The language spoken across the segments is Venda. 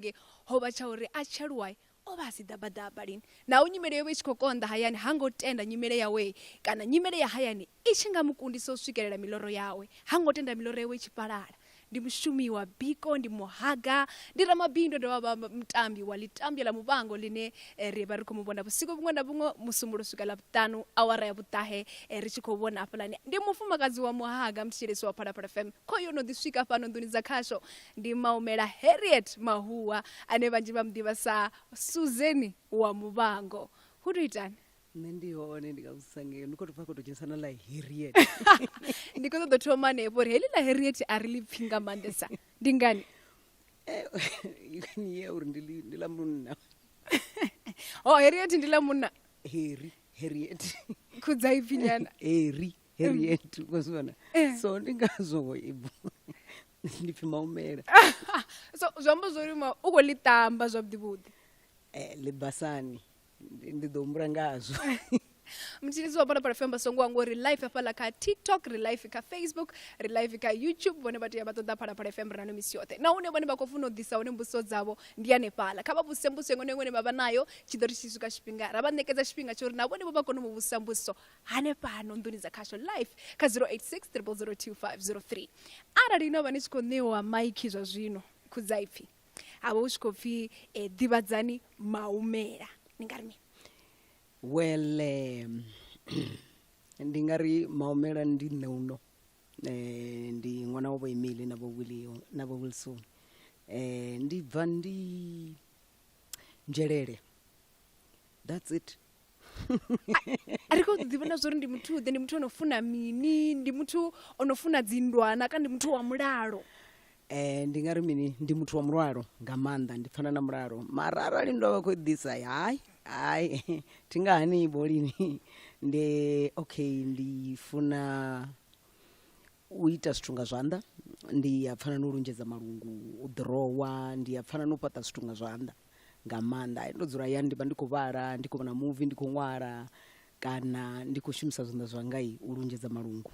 nge ho vha tsha uri a tshi aluwa o vha a si ḓabaḓaba lini. Naho nyimele yo vha i tshi khou konḓa hayani, ha ngo tenda nyimele yawe kana nyimele ya hayani i tshi nga mu kundisa u swikelela miloro yawe. Ha ngo tenda miloro yawe i tshi fhalala. Ndi mushumi wa biko, ndi muhaga, ndi ramabindu, a dovha a vha mutambi wa ḽitambwa ḽa Muvhango ḽine ri vha ri khou mu vhona vhusiku vhuṅwe na vhuṅwe, Musumbulowo swika Ḽavhuṱanu awara ya vhuṱahe ri tshi khou vhona hafhaḽani. Ndi mufumakadzi wa muhaga, muthetshelesi wa Phalaphala FM. Khoyu o no ḓi swika fhano nḓuni dza khasho Ndi Maumela Harriet Mahuwa ane vhanzhi vha mu ḓivha sa Suzeni wa Muvhango. Hu tou itani? nṋe ndi hone ndi nga vhudzisa ngeyo ndi khou tou pfa khou tou dzhenisa na ḽa harriet Ndi khou ṱoḓa thoma hanefho uri heḽi ḽa Harriet a ri ḽi pfhi nga maanḓesa. Ndi ngani? ni ya uri ndi ḽi- ndi ḽa munna Ho Harriet ndi ḽa munna heri harriet khudza ipfhi nyana. heri harriet vhazwana so ndi ngazwo i bvo ndi pfi maumela so zwi amba zwo ri u khou ḽi tamba zwavhuḓi vhuḓi eh, ḽibasani ndi ḓo humbula ngazwo mutshilisi wa bonapala femba songo wa ngori life hafhaḽa kha tiktok ri life kha facebook ri life kha youtube vhone vha tea vha ṱoḓa phalaphala fm rano misi yoṱhe na hune vhone vha khou funa u ḓisa hone mbudziso dzavho ndi hanefhaḽa kha vha vhuse mbudziso iṅwe na iṅwe ine vha vha nayo tshi ḓo ri tshi swika tshifhinga ra vha ṋekedza tshifhinga tsho uri na vhone vho vha kone u vhusa mbudziso hanefhano nḓuni dza khasho life kha 086 0002503 arali no vha ni tshi khou ṋewa maiki zwa zwino khudzaipfi ha vha u tshi khou pfi eh, ḓivhadzani maumela ni nga ri mini well um, ndi nga ri maumela ndi nṋe uno eh, ndi ṅwana wa vho emile na vho willio na vho wilson eh, ndi bva ndi nzhelele that's it a ri kho ḓi vhona zwori ndi muthu ḓe ndi muthu ono funa mini ndi muthu ono funa dzindwana kana ndi muthu wa mulalo Eh ndi nga ri mini ndi muthu wa mulalo nga maanḓa ndi pfana na mulalo mara arali ndo vha khou ḓisa hayi hayi thi nga hani bolini ndi okay ndi funa u ita zwithu nga zwanḓa ndi a pfana na u lunzhedza malungu u ḓirowa ndi a pfana na u fhaṱa zwithu nga zwanḓa nga maanḓa ndo dzula yani ndi vha ndi khou vhala ndi khou vhona muvi ndi khou ṅwala kana ndi khou shumisa zwanḓa zwanga u lunzhedza malungu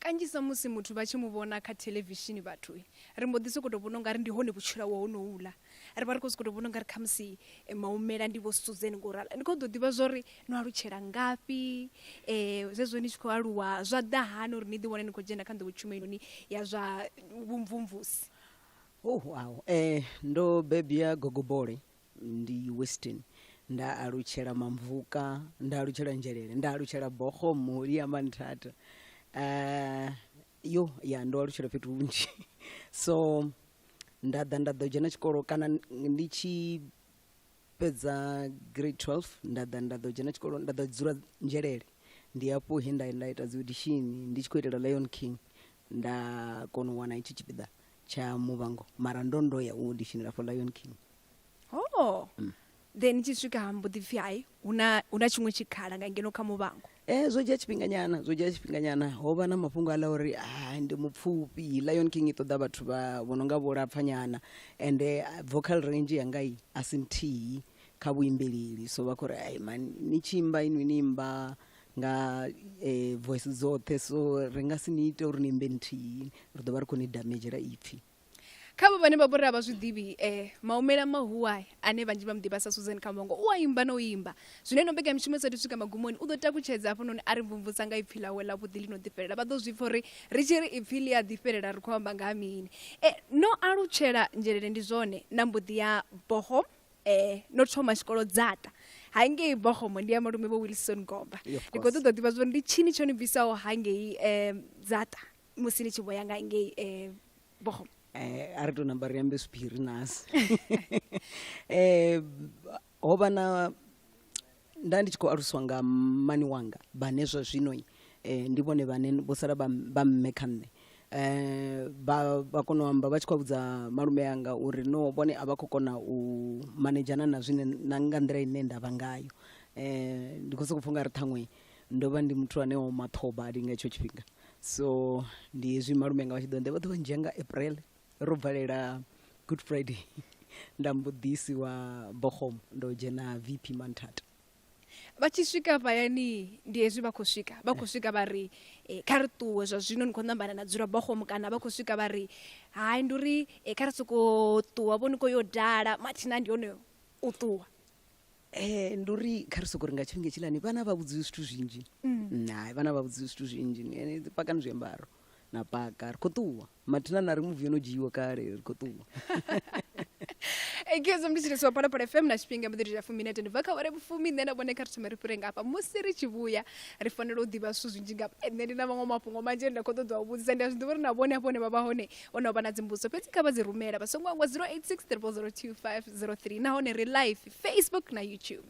kanzhisa musi muthu vha tshi mu vhona kha thelevishini vhathu ri mbo ḓi sokou tou vhona u nga ri ndi hone vhutshilo hawe honouḽa ri vha ri khou sokou tou vhona ungari khamusi eh, maumela ndi vho suzen ngo ralo ndi khou ḓo ḓivha zwo ri no alutshela ngafhi um zwezwo ni tshi khou aluwa zwa ḓa hani uri ni ḓi wane ni khou dzhena kha nḓowetshumelo yone ya zwa vhumvumvusi Oh, wow. Eh, ndo bebya gogobole ndi weston nda alutshela mamvuka nda alutshela nzhelele nda alutshela bogo muli ya manthata uh, yo ya ndo alutshela fhethu hunzhi so nda ḓa nda ḓo dzhena tshikolo kana ndi tshi fhedza grade 12 nda ḓa nda ḓo dzhena tshikolo nda ḓo dzula nzhelele ndi hafho he nda nda ita dzi audition ndi tshi khou itela lion king nda kona u wana itshi tshipiḓa tsha muvhango mara ndo ndo ya u auditionela for lion king oh Then ni tshi swika ha mbo ḓi pfhi hai hu na hu na tshiṅwe tshikhala nga ngeno kha muvhango. Eh zwo dzhia tshifhinganyana zwo dzhia tshifhinganyana ho vha na mafhungo aḽa uri hai ndi mupfufhi. Lion King i ṱoḓa vhathu vha vho no nga vho Lapfanyana ende vocal range yanga i a si nthihi kha vhuimbeleli so vha khou ri hai mani ni tshi imba inwi ni imba nga voice dzoṱhe so ri nga si ni ite uri ni imbe nthihi ri ḓo vha ri khou ni damedzhela ipfhi. khavho vhane vha vhori a vha zwi ḓivhi um eh, maumela mahuwa ane vhanzhi vha muḓivha sa susan kambongo u a imba na u imba zwino ino mbekanya mishumo sathu swika magumoni u ḓo takutshedza hafhanoni a ri mvumvusa nga ipfi ḽawe ḽa vhuḓi ḽi no ḓifhelela vha ḓo zwi pfa uri ri tshi ri ipfi ḽi a ḓifhelela ri khou amba nga ha mini e no alutshela nzhelele ndi zwone na mbuḓi ya boho eh no thoma tshikolo dzata hangei bohomo ndi ya malume vho wilson gomba ndi khou ṱoḓa ḓivha zwori ndi tshini tsho ni bvisaho hangei um dzata musi ni tshi vho ya nga ngei eh, bohom eh, a ri to namba ri ambe sphiri nasi eh, ho vha na nda ndi tshi khou aluswa nga mani wanga vhane zwa zwino eh, ndi vhone vhane vho sala vha m- vha mme kha nṋe eh ba ba kono amba vha tshi khou vhudza malume yanga uri no vhone a vha khou kona u manedzhana na zwine na nga nḓila ine nda vha ngayo eh ndi khou sokou pfha u nga ri ṱhaṅwe ndo vha ndi muthu ane o maṱhoba ali nga etsho tshifhinga so ndi hezwi malume nga vha tshi ḓo nḓe vha ḓo vha ndzhia nga april ro bvalela good friday nda mbo ḓisi wa bohom ndo dzhena vp manthata vha tshi swika vhayani ndi hezwi vha khou swika vha khou swika vha ri eh, kha ri ṱuwe zwa zwino ni khou ṋambana na dzula bohom kana vha khou swika vha ri hai ndi uri eh, kha ri sokou ṱuwa vho ni khou yo dala mathina ndi hone u ṱuwa Eh, ndi uri kha ri soko ri nga tshifhinga tshilani vhana vha vhudziwi zwithu zwinzhi Mm. hai vhana vha vhudziwi zwithu zwinzhi Ni- ni- dzi pakani zwiambaro na paka ri khou ṱuwa mathina na ri muvi yo no dzhiiwa kale ri khou ṱuwa ekezo ndi tshithu swapalapala fm na tshifhinga mbuḓirira fuminete ndi bva kha ware vhufumi nṋe na vhone kha ri thome ri fhire nga hafha musi ri tshi vhuya ri fanela u ḓivha zwithu zwinzhi nga nṋe ndi na maṅwe mafhungo manzhi ane nda khou ṱoḓa u vhudzisa ndi a zwi ḓivha uri na vhone hafho hone vha vha hone o no vha na dzimbudzo fhedzi kha vha dzi rumela vha songo angwa 086 02503 nahone ri live facebook na youtube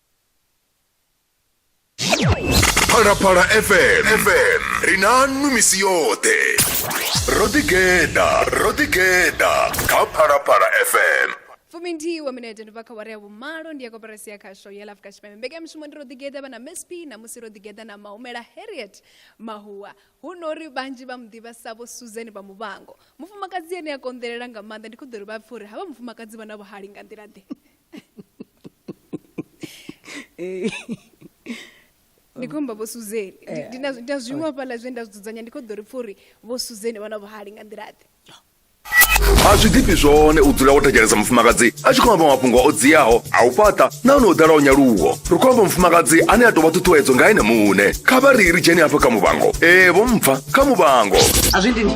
phalaphala fm fm ri na nnu misi yoṱhe ro ḓigeḓa ro ḓigeḓa kha phalaphala fm fuminthihi wa minete ndi bva kha wari ya vhumalo ndi ya koperasi ya khasho ya la afurika tshipembe mbekanyamushumo ndi ro ḓigeḓa vha na msp namusi ro ḓigeḓa na mahumela harriet mahuwa hu no uri vhanzhi vha mu ḓivha sa vho susan vha muvhango mufumakadzi ane a konḓelela nga maanḓa ndi kho ḓo ri vha pfhe uri havha mufumakadzi vha na vhuhali nga nḓila ḓe Eh, ndi khou amba vho suzeni Ndi- ndi na- ndi na zwiṅwe hafhaḽa zwine nda zwi dzudzanya ndi khou ḓo ri pfa uri vho suzeni vha na vhuhali nga nḓilaḓe a zwi ḓifhi zwone u dzula wo thetshelesa mufumakadzi a tshi khou amba mafhungo o dziaho a u fhaṱa nahone o ḓalaho nyaluwo ri khou amba mufumakadzi ane a tou vha ṱhuṱhuwedzo nga ene muṋe kha vha ri ri dzheni hafha kha muvhango ee vho mpfa kha muvhango a zwi dini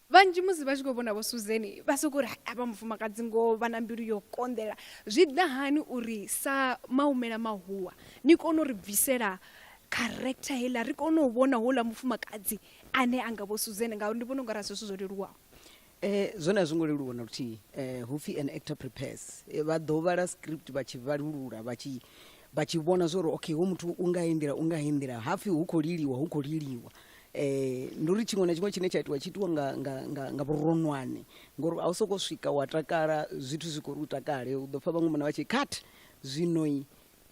Vhanzhi musi vha tshi khou vhona vho Suzeni vha sokou ri havha mufumakadzi ngoho vha na mbilu yo konḓela. Zwi ḓa hani uri sa maumela mahuwa ni kone u ri bvisela character heiḽa ri kone u vhona houḽa mufumakadzi ane a nga vho Suzeni ngauri ndi vhona u nga ra zwithu zwo leluwaho? Zwone a zwi ngo leluwa na luthihi hu pfhi an actor prepares. Vha ḓo vhala script vha tshi vhalulula vha tshi vha tshi vhona zwa uri okay hoyu muthu u nga heyi nḓila u nga heyi nḓila hapfhi hu khou liliwa hu khou liliwa Eh, ndi uri tshiṅwe na tshiṅwe tshine tsha itiwa tshi itiwa nga, nga, nga, nga vhuronwane ngori a u sokou swika wa takala zwithu zwi khou ri u takale u ḓo pfa vhaṅwe mona vha tshi cut zwinoi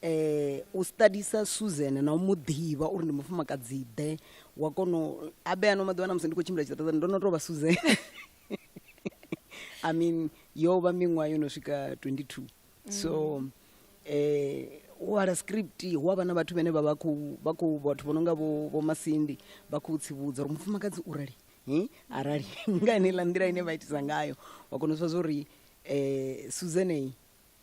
eh u studisa Susan na u mu ḓivha uri ndi mufumakadzi ḓe wa kono a be ano maḓuvha na musi ndi khou tshimbila tshiṱaṱani ndo no tou vha Susan I mean yo vha miṅwaha yo no swika 22 so um u wala script hu avha na vhathu vhene vha vha khou vha khou vhathu vho no nga vho vho masindi vha khou tsivhudza uri mufumakadzi u rali hi arali nga heneiḽa nḓila ine vha itisa ngayo wa kona u zwa zwa uri um suzanei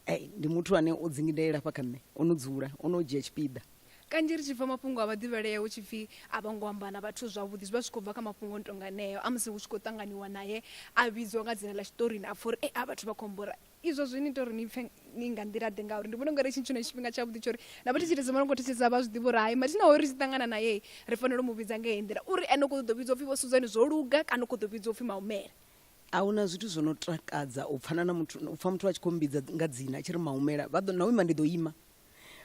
ei ndi muthu ane o dzingidelela hafha kha nṋe o no dzula o no dzhia tshipiḓa kanzhi ri tshi pfa mafhungo a vhaḓivhalea hu tshi pfhi a vho ngo amba na vhathu zwavhuḓi zwi vha zwi khou bva kha mafhungo o no tonga aneo a musi hu tshi khou ṱanganiwa naye a vhidzwa nga dzina ḽa tshiṱorini a pfha uri e a vhathu vha khou mmbora Izwo zwi ni ita uri ni pfe ni nga nḓila-ḓe? Ngauri ndi vhona ungari hetshi ndi tshone tshifhinga tshavhuḓi tsha uri na vhathetshelesi vha no khou thetshelesa vha zwi ḓivhe uri hai mathina hoyu ri tshi ṱangana nae ri fanela u mu vhidza nga heyi nḓila, uri ene u khou ṱoḓa u vhidzwa u pfi Vho Suzan zwo luga kana u khou ḓa u vhidzwa u pfi Maumela. A hu na zwithu zwo no takadza u pfana na muthu, u pfa muthu a tshi khou mmbidza nga dzina a tshi ri Maumela, vha ḓo, na u ima ndi ḓo ima.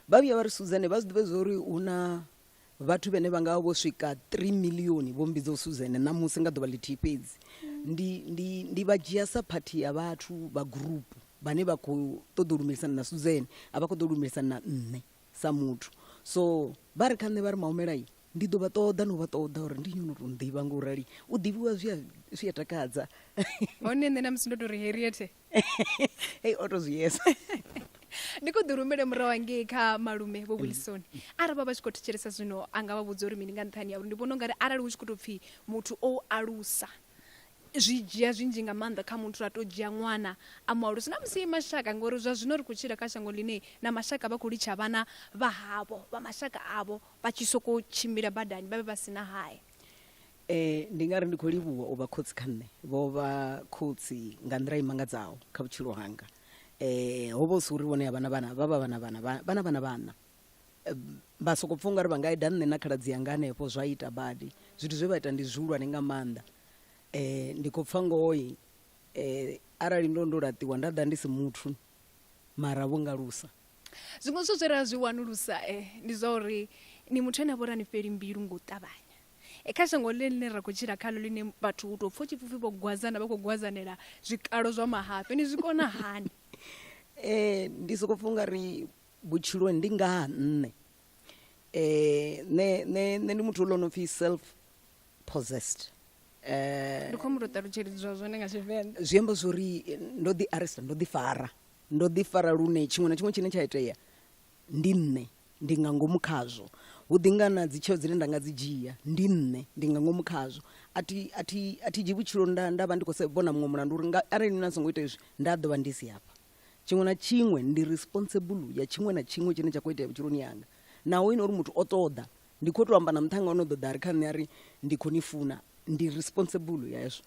Vha vhuya vha ri, Suzan, vha zwi ḓivhe zwa uri hu na vhathu vhene vha nga vha vho swika 3 milioni vho mbidza usuzene ṋamusi nga ḓuvha ḽithihi fhedzi ndi, ndi, ndi vha dzhia sa phathi ya vhathu vha gurupu vhane vha khou ṱoḓa u lumelisana na suzene a vha khou ḓo lumelisana na nṋe sa muthu so vha ri kha nṋe vha ri mahumelai ndi ḓo vha ṱoḓa no vha ṱoḓa uri ndi nyona u tou ḓivha nga u rali u ḓivhiwa zwi a takadza hone nṋe na musi ndo tou ri heriethe hei o to zwi yesa ndi khou ḓi rumele murahu hangei kha malume vho wilson arali vha vha tshi khou thetshelesa zwino a nga vha vhudza uri mini nga nṱhani ya uri ndi vhona ungari arali hu tshi khou tou pfhi muthu o u alusa zwi dzhia zwinzhi nga maanḓa kha muthu a tou dzhia ṅwana a mu alusa na musi mashaka ngori zwa zwino ri khou tshila kha shango ḽine na mashaka vha khou litsha vhana vha havho vha mashaka avho vha tshi sokou tshimbila badani vha vhe vha si na haya E, ndi nga ri ndi khou livhuwa u vha khotsi kha nṋe. Vho vha khotsi nga nḓila i mangadzaho kha vhutshilo hanga. E, ho vha hu si uri vhone a vha na vhana, vha vha vha na vhana, vha, vha na vhana vhaṋa. E, vha soko pfa ungari vha nga eda nṋe na khaladzi yanga hanefho, zwa ita badi. Zwithu zwe vha ita ndi zwihulwane nga maanḓa. E, ndi khou pfa ngoho-i, e, arali ndo ndo laṱiwa nda ḓa ndi si muthu, mara vho ngalusa. Zwiṅwe zwithu zwe ra zwi wanulusa e, ndi zwa uri ni muthu ane a vha uri ha ni fheli mbilu nga u ṱavhanya. E, kha shango ḽine ḽine ra khou tshila khaḽo ḽine vhathu u tou pfha u tshi pfupfi vho gwazana vha khou gwazanela zwikalo zwa mahafhe ni zwi kona hani eh ndi soko pfha ungari vhutshiloni ndi nga ha nṋe eh ne ne ne ndi muthu lo no pfi self possessed eh ndi khou mu to ṱalutshelidzwa zwone nga tshivenḓa zwi amba zwori ndo ḓi arrest ndo ḓi fara ndo ḓi fara lune tshiṅwe na tshiṅwe tshine tsha itea ndi nṋe ndi nga ngomu khazwo hu ḓi nga na dzi tsheo dzine nda nga dzi dzhia ndi nṋe ndi nga ngomu khazwo a thi a thi a thi dzhi vhutshilo nda nda vha ndi khou vhona muṅwe mulandu uri nga arali nṋe na songo ita izwi nda ḓo vha ndi si hafha tshiṅwe na tshiṅwe ndi responsible ya tshiṅwe na tshiṅwe tshine tsha khou itea vhutshiloni yanga naho ine uri muthu o ṱoḓa ndi khou tou amba na muṱhanga o no ḓoḓa ri kha nṋe a ri ndi khou ni funa ndi responsible ya hezwo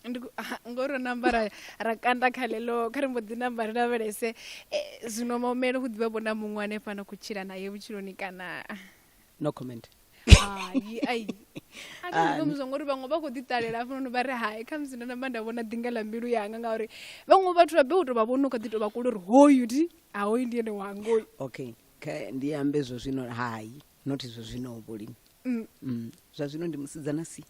ndi ku- ah, ngo ro namba ra ra kanda kha ḽeḽo kha ri mbo ḓi namba ri lavhelese eh, zwino maumele hu ḓivha vho na muṅwe ane fana khou tshila naye vhutshiloni kana no comment hai ai a thi zwi kombizwa ngori vhaṅwe vha khou ḓi ṱalela hafhanoni vha ri hai kha musi ndo namba nda vhona ḓinga ḽa mbilu yanga ngauri vhaṅwe vhathu vha be u tou vha vhona u kha ḓi tou vha kule uri hoyu ndi a hoyu ndi ene wanga oyu okay kha ndi ambe zwo zwino hai not zwo zwino vhulimi Mm. mm. zwa zwino ndi musidzana si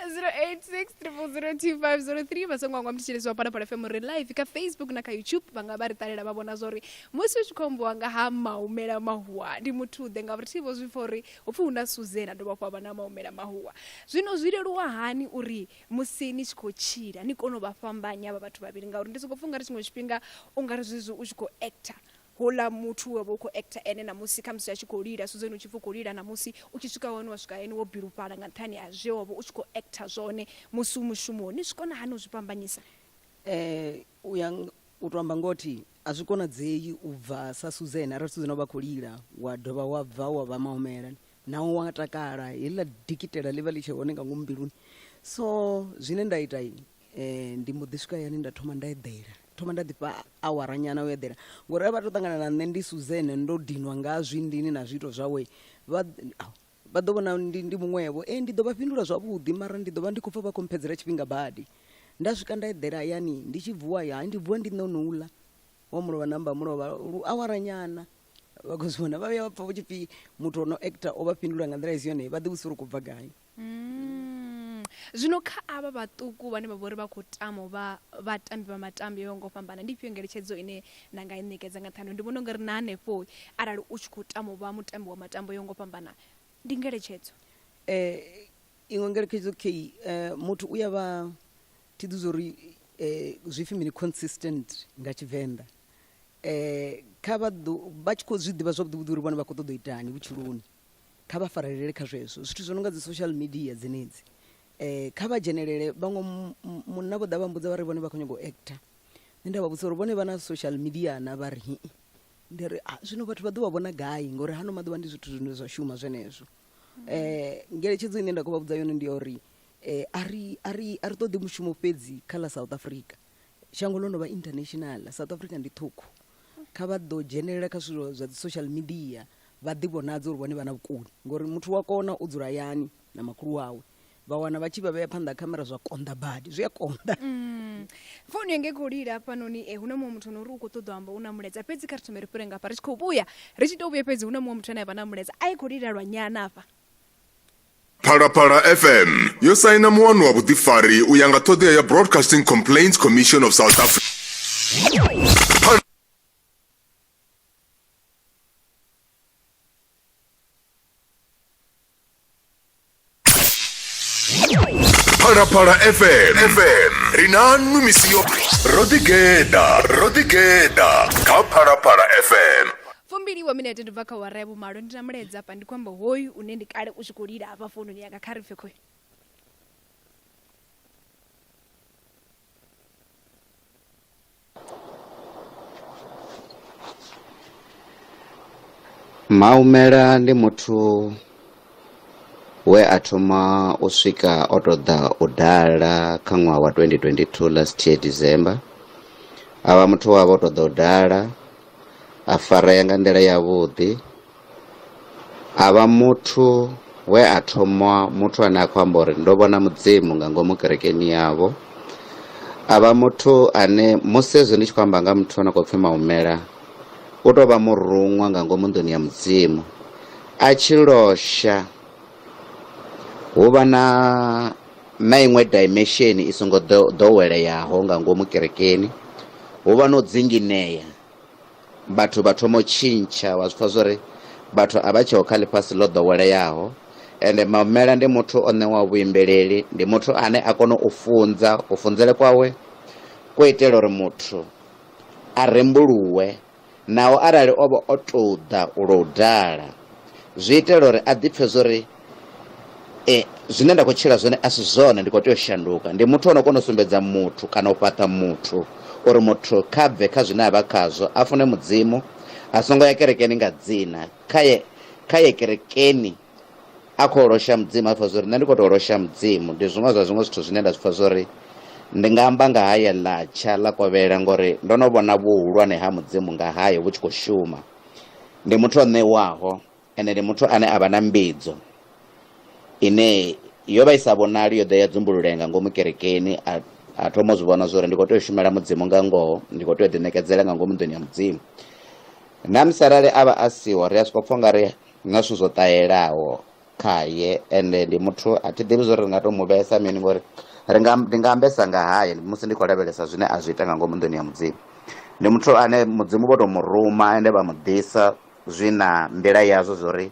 086 vha songo angwa mthetshelesi wa phalaphala fm ri live kha facebook na kha youtube vha nga vha ri ṱalela vha vhona zwa uri musi u tshi khou ambiwa nga ha maumela mahuwa ndi muthuḓe ngauri thi vho zwi pfa uri hu pfi hu na suzena dovha hafhu havha na maumela mahuwa zwino zwi leluwa hani uri musi ni tshi khou tshila ni kone u vha fhambanya vha vhathu vhavhili ngauri ndi sokou pfa ungari tshiṅwe tshifhinga ungari zwezwi u tshi khou actor houḽa muthu we vha u khou actor ene namusi khamusi a tshi khou lila suzeni u tshi pfi u khou lila namusi u tshi swika hone wa swika hayani wo bilufhala nga nṱhani ha zwe wa vha u tshi khou actor zwone musi u mushumoni ni zwi kona hani u zwi fhambanyisa eh u ya u to amba ngothi a zwi konadzei u bva sa suzeni arali suzeni o vha khou lila wa dovha wa bva wa vha mahumela naho wa takala heḽa dikitela ḽi vha ḽi tshe hone nga ngomu mbiluni so zwine nda ita um ndi mbo ḓi swika hayani nda thoma nda eḓela thoma nda ḓifha awara nyana u eḓela ngori a vha to ṱangana na nṋe ndi suzene ndo dinwa nga zwindini na zwiito zwawe vha vha ḓo vhona ndi, ndi muṅwevho e ndi ḓo vha fhindula zwavhuḓi mara ndi ḓo vha ndi khou pfa vha khou mphedzela tshifhinga badi nda swika nda eḓela hayani ndi tshi vuwa ya ndi vuwa ndi nṋe onouḽa wa mulovha namba mulovha lu awara nyana vha khou zwi vhona vha vhuya vha pfa vho tshipfi muthu o no actor o vha fhindula nga nḓila i si yone vha ḓi vhudzisa uri khou bva gai Mm. Zwino kha avha vhaṱuku vhane vha vhori vha khou tama u vha vhatambi vha matambi yo ngo fhambana ndi ifhio ngeletshedzo ine na nga i ṋekedza nga nṱhani ndi vhona ungari na hanefho arali u tshi khou tama u vha mutambi wa matambo yo ngo fhambana ndi ngeletshedzo eh iṅwe ngeletshedzo key eh muthu u ya vha thi ḓi zori eh zwipfi mini consistent nga tshivenḓa eh kha vha ḓo vha tshi khou zwi ḓivha zwavhuḓi vhuḓi uri vhone vha khou ṱoḓa u itani vhutshiloni kha vha farelele kha zwezwo zwithu zwo no nga dzi social media dzenedzi um kha vha dzhenelele vhaṅwe munna vho ḓa vha mbudza vha ri vhone vha khou nyanga u acta nṋe nda vha vhudzisa uri vhone vha na social media na vha ri hii ndi ri ah, zwino vhathu vha ḓo vha vhona gai ngori hano maḓuvha ndi zwithu zwine zwa shuma zwenezwo um ngeletshedzo ine nda khou vha vhudza yone ndi ya uri um a ri a ri a ri ṱoḓi mushumo fhedzi kha ḽa south africa shango ḽo no vha international south africa ndi ṱhukhu kha vha ḓo dzhenelela kha zwithu zwa dzi social media vha ḓivhonadze uri vhone vha na vhukoni ngori muthu wa kona u dzula hayani na makhulu wawe vha wana vha tshi vha vhea phanḓa ha khamera zwa konḓa badi zwi a konḓa mm. founu yanga i khou lila hafhanoni e eh, hu na muṅwe muthu no uri u khou ṱoḓa amba u na mulaedza fhedzi kha ri thome ri fhire ngafha ri tshi khou vhuya ri tshi tou vhuya fhedzi hu na muṅwe muthu ane a vha na mulaedza a i khou lila lwa nyana afha Phalaphala FM yo saina muwano wa vhuḓifari u ya nga ṱhoḓea ya Broadcasting Complaints Commission of South Africa. phalaphala fm fm ri na nnu misi yo ro ḓigeḓa ro ḓigeḓa kha phalaphala fm fumbili wa minete ndi bva kha wara ya vhumalo ndi na mulaedza hafha ndi khou amba hoyu une ndi kale u tshi khou lila hafha foununi yanga kha ri pfe khoyu Maumela ndi muthu we a thoma u swika o tou ḓa u dala kha ṅwaha wa 2022 last year December a vha muthu we a vha o tou ḓa u dala a farea nga nḓila yavhuḓi. A vha muthu we a thomwa muthu ane a khou amba uri ndo vhona mudzimu nga ngomu kerekeni yavho a vha muthu ane musi hezwi ndi tshi khou amba nga muthu ano khou pfhi maumela u tou vha muruṅwa nga ngomu nḓuni ya mudzimu a tshi losha hu vha na na iṅwe dimension i songo ḓoweleyaho nga ngomu kerekeni hu vha no dzinginea vhathu vha thoma u tshintsha wa zwi pfha zwori vhathu a vha tsheho kha ḽifhasi ḽo ḓoweleaho ende mamela ndi muthu o ṋewa vhuimbeleli ndi muthu ane a kona u funza u funzele kwawe ko itela uri muthu a rembuluwe naho arali o vha o tou ḓa u lo u dala zwi itela uri a ḓipfhe zwori e, zwine nda khou tshila zwone a si zwone ndi khou tea u shanduka ndi muthu o no kona u sumbedza muthu kana u fhaṱa muthu uri muthu kha bve kha zwine a vha khazwo a fune mudzimu a songo ya kerekeni nga dzina kha ye kha ye kerekeni a khou losha mudzimu a pfha zwori nṋe ndi khou tou losha mudzimu ndi zwiṅwe zwa zwiṅwe zwithu zwine nda zwi pfha zwori ndi nga amba nga haye ḽatsha ḽa kovhela ngori ndo no vhona vhuhulwane ha mudzimu nga haye vhu tshi khou shuma ndi muthu o ṋewaho Ene ndi muthu ane a vha na mbidzo ine yo vha i sa vhonali, yo ḓa ya dzumbululee nga ngomu kerekeni, a, a thoma u zwi vhona zwo uri ndi khou tea u shumela Mudzimu nga ngoho, ndi khou tea u ḓiṋekedzela nga ngomu nḓuni ya Mudzimu. Namusi arali a vha a siho, ri a sokou pfa u nga ri na zwithu zwo ṱahelaho khaye, ende ndi muthu a thi ḓivhi zwo uri ri nga tou mu vhesa mini ngori ri nga, ndi nga ambesa nga haye musi ndi khou lavhelesa zwine a zwi ita nga ngomu nḓuni ya Mudzimu. Ndi muthu ane Mudzimu vho tou mu ruma ende vha mu ḓisa zwi na nḓila yazwo zwo ri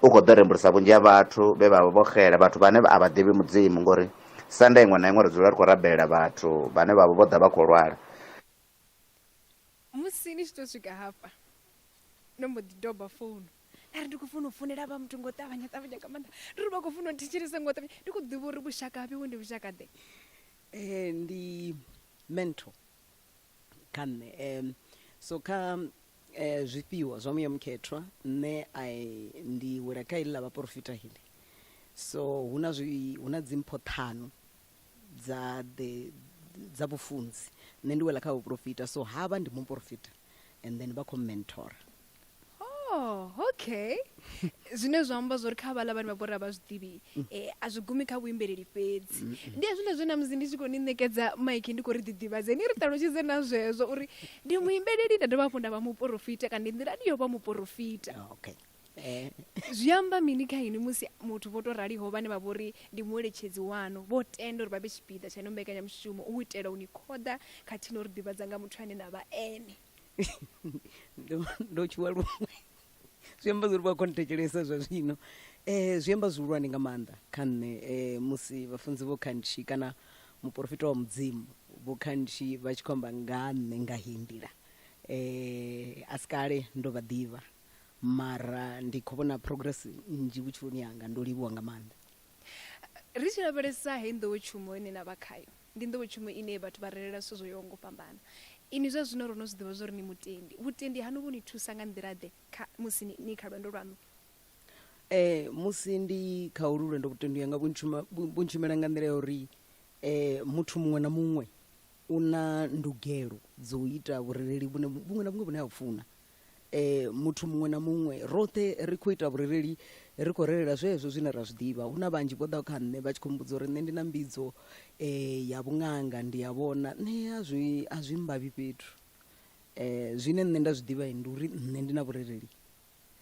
u khou ḓo rembulusa vhunzhi ha vhathu vhe vha vha vho xela vhathu vhane a vha ḓivhi mudzimu ngori sanda iṅwe na iṅwe ri dzula ri khou rabelela vhathu vhane vha vha vho ḓa vha khou lwala musi ni tshi tou swika hafha no mbo ḓi doba founu ari ndi khou funa u funela vha muthu ngo ṱavhanya ṱavhanya nga maanḓa ndi ri vha khou funa u thetshelesa ngo ṱavhanya ndi khou ḓivha uri vhushaka vhewe ndi vhushaka ḓe um ndi mentor kha nṋe. Um, so kha eh, zwifhiwa zwa muya mukhethwa nṋe I, ndi wela kha ili ḽa vhaporofita hili so hu na zwi hu na dzimpho ṱhanu dza the dza vhufunzi nṋe ndi wela kha vhuporofita so havha ndi muporofita and then vha khou mentora oh okay zwine zwa amba zwori kha vhaḽa vhane vha vhori a vha zwi ḓivhi um a zwi gumi kha vhuimbeleli fhedzi mm. ndi hezwiḽa zwe na musi ndi tshi khou ni ṋekedza maiki ndi khou ri ḓiḓivhadze ni ri ṱalutshedze na zwezwo uri ndi muimbeleli nda dovha hafhu nda vha muporofita kana ndi nḓilani yo vha muporofita okay eh. zwi amba mini kha ini musi muthu vho to raliho vhane vha vhori ndi mueletshedzi wanu vho tenda uri vha vhe tshipiḓa tsha ino mbekanyamushumo u itela u ni khoḓa khathihi no ri ḓivhadza nga muthu ane na vha ene ndo ndo tshuwa luṅwe zwi amba zwori vha khou nthetshelesa zwa zwino um zwi amba zwihulwane nga maanḓa kha nṋe um musi vhafunzi vho khantshi kana muporofita wa mudzimu vho khantshi vha tshi khou amba nga nṋe nga heyi nḓila um a si kale ndo vha ḓivha mara ndi khou vhona progress nnzhi vhutshiloni hanga ndo livhuwa nga maanḓa ri tshi lavhelesa heyi nḓowetshumo ine na vha khayo Ndi nḓowetshumo ine vhathu vha relela zwithu zwo yaho nga u fhambana. Inwi zwa zwino ro no zwi ḓivha zwa uri ni mutendi. Vhutendi haṋu vhu ni thusa nga nḓila-ḓe kha musi ni ni kha lwendo lwaṋu? Ee, musi ndi kha holu lwendo vhutendi hanga vhu ntshuma, vhu, vhu ntshumela nga nḓila ya uri muthu muṅwe na muṅwe u na ndugelo dza u ita vhurereli vhune, vhuṅwe na vhuṅwe vhune a vhu funa. eh muthu muṅwe na muṅwe roṱhe ri khou ita vhurereli ri khou relela zwezwo zwine ra zwi ḓivha hu na vhanzhi vho ḓaho kha nṋe vha tshi khou mbudza uri nṋe ndi na mbidzo eh ya vhunganga ndi ya vhona nṋe a zwi a zwi mbavhi fhethu eh zwine nṋe nda zwi ḓivha ndi uri nṋe ndi na vhurereli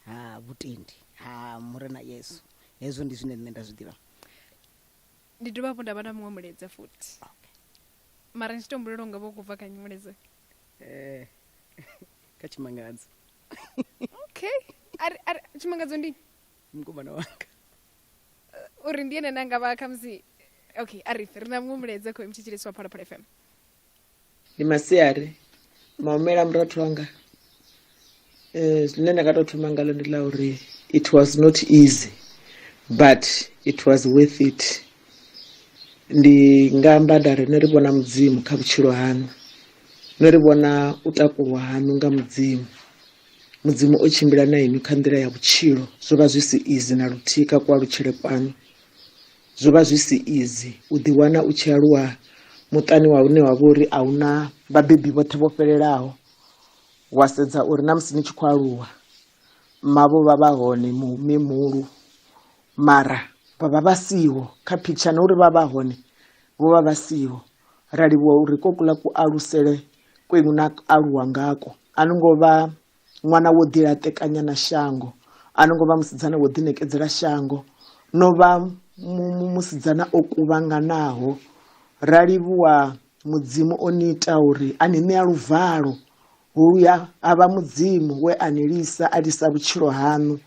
ha vhutendi ha murena yesu hezwo ndi zwine nṋe nda zwi ḓivha ndi dovha hafhu nda vha na muṅwe mulaedza futhi mara ndi tshi to humbulela unga vho kubva kha mulaedza eh kha tshimangadzo okay ari ari tshimangadzo ndi mukomana wanga uri ndi ene nanga vha khamusi okay ari ri na muṅwe mulaedza khou imtshitshelesi wa phalaphala fm ndi masiari maumela murathu wanga eh, zwine nda nga tou thoma ngalo ndi la uri it was not easy but it was worth it ndi nga amba nda ri no ri vhona mudzimu kha vhutshilo haṋu no ri vhona u takulwa haṋu nga mudzimu mudzimu o tshimbila na inwi kha nḓila ya vhutshilo zwo vha zwi si izi na luthihi kha kualutshele kwanu zwo vha zwi si izi u ḓiwana u tshi aluwa muṱani wa une wa vha uri a hu na vhabebi vhoṱhe vho fhelelaho Wa sedza uri na musi ni tshi khou aluwa mavho vha vha hone mihulu mara vha vha vha siho kha phitsha na uri vha vha hone vho vha vha siho ra livhuwa uri ko kula ku alusele kwenu na aluwa ngako a no ngo vha ṅwana wo ḓi laṱekanya na shango a no ngo vha musidzana wo ḓi ṋekedzela shango no vha musidzana o kuvhanganaho ra livhuwa Mudzimu o ni ita uri a ni ṋea luvalo, huya ha vha Mudzimu we a ni lisa a lisa vhutshilo haṋu,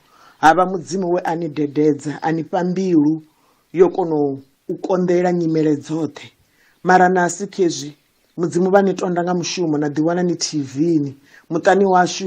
ha vha Mudzimu we a ni dededza a ni fha mbilu yo kona u konḓelela nyimele dzoṱhe. Mara na si khezwi Mudzimu vha ni tonda nga mushumo na ḓiwana ni TV-ni. Muṱani washu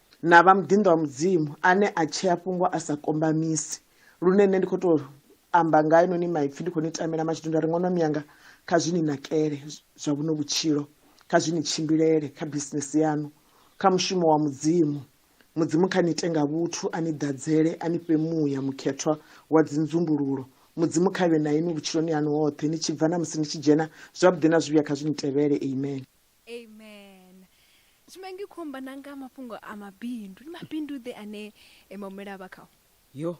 na vha muḓinḓa wa mudzimu ane a tshea fhungo a sa kombamisi lune nṋe ndi khou tou amba nga inoni maipfi ndi khou ni tamela mashidu nda ri ṅono miyanga kha zwi ni nakele zwa vhuno vhutshilo kha zwi ni tshimbilele kha bisinesi yanu kha mushumo wa mudzimu mudzimu kha ni ite nga vhuthu a ni ḓadzele a ni fhe muya mukhethwa wa dzinzumbululo mudzimu kha vhe na inwi vhutshiloni hanu hoṱhe ni tshi bva na musi ni tshi dzhena zwavhuḓi na zwivhuya kha zwi ni tevhele amen Amen. Zwino ngi khou amba na nga mafhungo a mabindu. Ndi mabindu ḓe ane eh, maumela a vha khao? yo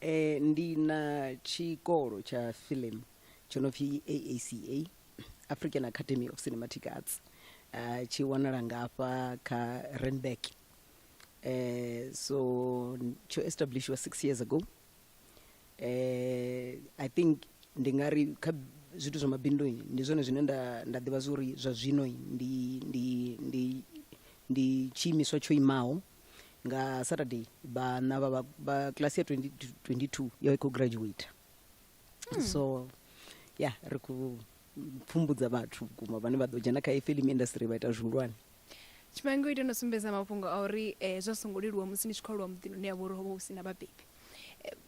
eh, ndi na tshikolo tsha film tsho no pfi aaca african academy of cinematic arts uh, tshi wanala ngafha kha renberg eh, so n- tsho establishiwa six years ago eh, i think ndi nga ri kha zwithu zwa mabindu ndi zwone zwine nda nda ḓivha zwa uri zwa zwino ndi ndi ndi ndi tshiimiswa tsho imaho nga saturday vhana vha vha- vha class ya 20 22 yo i khou graduate so ya ri khou pfumbudza vhathu vhukuma vhane vha ḓo dzhena kha film industry vha ita zwihulwane tshifhango ita no sumbedza mafhungo a uri um zwa songo leluwa musi ni tshi khou aluwa muḓini une yavha uri ho vha hu si na vhabebi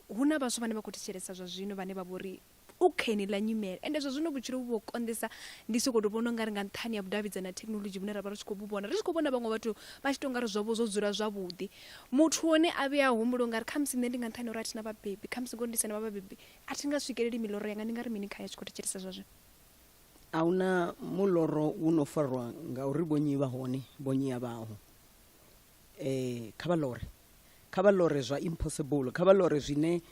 um hu na vhaswa vhane vha khou thetshelesa zwa zwino vhane vha vhori u kha ḽa nyimele ende zwa zwino vhutshilo vhu vho konḓesa ndi soko to vhona ungari nga nṱhani ya vhudavhidzani na thekhinolodzhi vhune ra vha ri tshi khou vhona ri tshi khou vhona vhaṅwe vhathu vha tshi to ngari zwavho zwo dzula zwavhuḓi muthu one a vhuya a humbula ungari khamusi nṋe ndi nga nṱhani uri a thina vhabebi khamusi ngori ndi sena vha vhabebi a thi nga swikeleli miloro yanga ndi nga ri mini khayo a tshi khou thetshelesa zwa zwino a hu na muloro wu no farwa nga uri vhonyi vha hone vhonyi a vhaho um kha vha lore kha vha lore zwa impossible kha vha lore zwine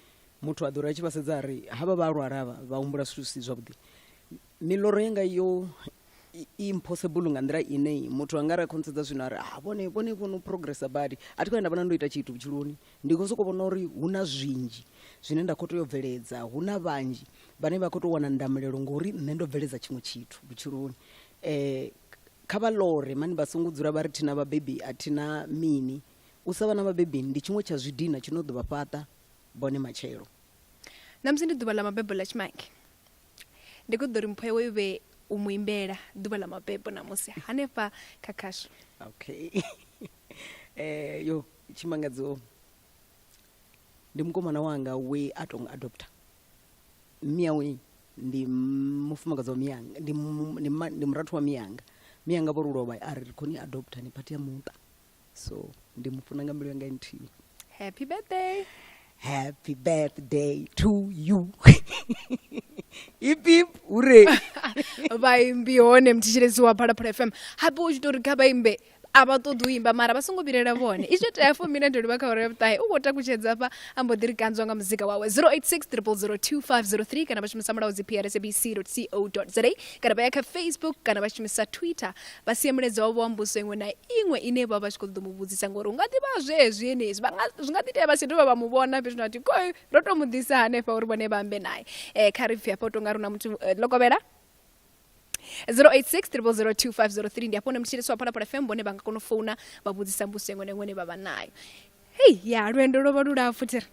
muthu a ḓo ri a tshi vha sedza a ri havha vha lwala vha vha humbula zwithu zwi si zwavhuḓi miḽoro yanga yo impossible nga nḓila ine muthu anga ra khonsedza zwino ari ah vhone vhone vhono progressa badi a thi khou ya nda vhona ndo ita tshithu vhutshiloni ndi khou sokou vhona uri hu na zwinzhi zwine nda khou tea u bveledza hu na vhanzhi vhane vha khou tou wana ndamulelo ngori nṋe ndo bveledza tshiṅwe tshithu vhutshiloni um kha vha lore mani vha songo dzula vha ri thina vhabebi a thina mini u sa vha na vhabebi ndi tshiṅwe tsha zwidina tshi no ḓo vha fhaṱa bone matshelo ṋamusi ndi ḓuvha ḽa mabebo ḽa tshimange Ndi khou ṱoḓa uri mpho yawe i vhe u mu imbela ḓuvha ḽa mabebo ṋamusi hanefha kha khasho. Okay. eh yo tshimangadzo ndi mukomana wanga we a tou adopta miyawe ndi mufumakadzi wa miyanga ndi murathu wa miyanga miyanga vho ri lovha a ri ri khou ni adopta ni phathi ya muṱa so ndi mu funa nga mbilu yanga nthihi happy birthday happy birthday to you ipip hure vhaimbi hone mthetshelezi wa phalaphala fm hape u tshi tori kha vhaimbe a vha ṱoḓi u imba mara vha songo vhilela vhone izwo tea fo mina ndo livha kha uri vhuṱahe u khou takutshedza fha a mbo ḓi ri kanzwa nga muzika wawe 0860002503 kana vha shumisa mulaudzi prsabc co za kana vha ya kha facebook kana vha shumisa twitter vha sie mulaedza wavho wa mbudziso iṅwe na iṅwe ine vha vha tshi khou ṱoḓa mu vhudzisa ngori hu nga ḓi vha zwezwi henezwi vha nga zwi nga ḓi tea vha si dovha vha mu vhona fhethu na tiko ro tou mu ḓisa hanefha uri vhone vha ambe naye um kha ri pfhi hafha u tou nga ri na muthu eh, ḽo kovhela 086 3002503 ndi hafho hune mutshilisi wa phalaphala fm vhone vha nga kona u founa vha vhudzisa mbudziso iṅwe na iṅwe ine vha vha nayo hei ya lwendo lwo vha lulapfu thiri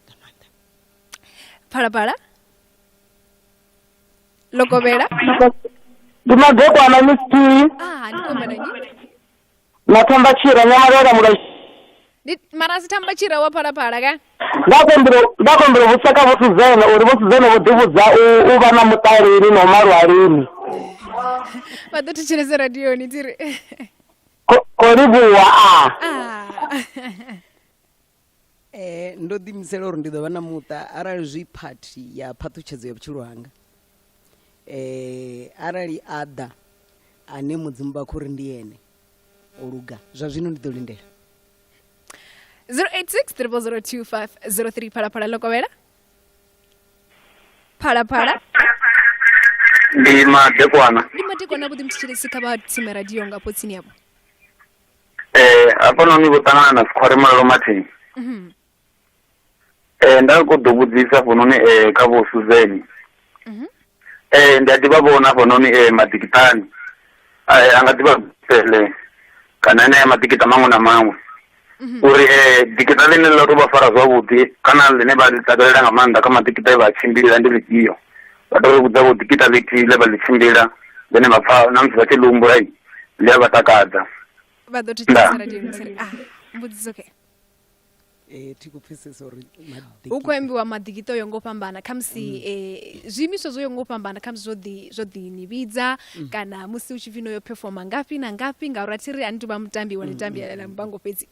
phalaphala lokovhela ndi magokwana misitiyi ah ndi komana nyini mathamba tshira nyamalera mulai ndi mara si thamba tshira wa phalaphala ka ndakombela vhushaka vhuthu zene uri vhuthu zene vho ḓivhudza u- u vha na muṱaleli na u malwalini vha ḓo thetshelese radioni tiri Ko- kolivhuwa a ah Eh, ndo ḓiimisela uri ndi ḓo vha na muṱa arali zwi phathi ya phaṱhutshedzo ya vhutshilo hanga eh, arali a ḓa ane mudzimu vha khou ri ndi ene o luga zwa zwino ndi ḓo lindela 086 0025 03 phalaphala ḽo kovhela phalaphala ndi madekwana ndi matekwana vhuḓi mthetshelesi kha vha tsime radio ngafho tsini yavho eh hafhanoni vho ṱangana na dzikhware malalo mathini Mhm. eh nda khou ḓo vhudzisa hafhanoni eh kha vho suzeni Mhm. eh ndi a ḓivha vhona hafhanoni eh maḓikiṱani eh a nga ḓivha pele kana enea maḓikiṱa maṅwe na maṅwe Mhm. uri eh ḓikiṱa ḽine ḽa tou vha fara zwavhuḓi kana ḽine vha ḽi takalela nga maanḓa kha maḓikiṱa e vha a tshimbila ndi ḽifhio vha tou ri vhudza vho ḓikiṱa ḽithihi ḽe vha ḽi tshimbila ḽine vha pfa na musi vha tshi ḽi humbula i ḽi a vha takadza vha ḓo thetshelesa radio musere ah mbudziso ke eh, thi kupfesesa uri hu khou ambiwa maḓikita o yo ngo fhambana khamusi mm. eh, zwiimiswa zwo yo ngo fhambana khamusi zwo ḓi zwo ḓi ni vhidza mm. kana musi u tshi pfhi no yo performa ngafhi na ngafhi ngauri a thi ri a ni tou vha mutambi wa ni mm, tambiela mbango fhedzi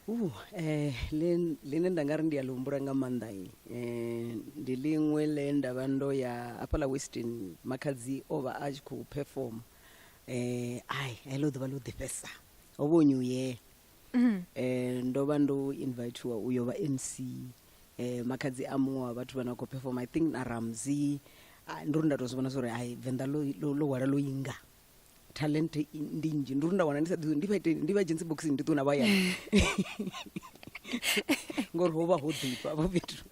Uh, eh, ḽine nda nga ri ndi a ḽi humbula nga maanḓa eh, ndi ḽiṅwe ḽe nda vha ndo ya hafhaḽa westin makhadzi o vha a tshi khou perform eh, ai heḽo ḓuvha ḽo ḓifhesa ho vha new year mm-hmm. eh, ndo vha ndo invitiwa u yo vha mc eh, makhadzi a muṅwe wa vhathu vha na khou perform i think na ramzi ah, ndo ri nda tou zwi vhona zwa uri ai venḓa ḽo hwala ḽo inga talent i- ndi nnzhi ndi uri nda wana ndi sa ḓi ndi vha ite ndi vha dzhenise boxini ndi ṱuwe na vhaya ngori ho vha ho ḓifha vho fhethu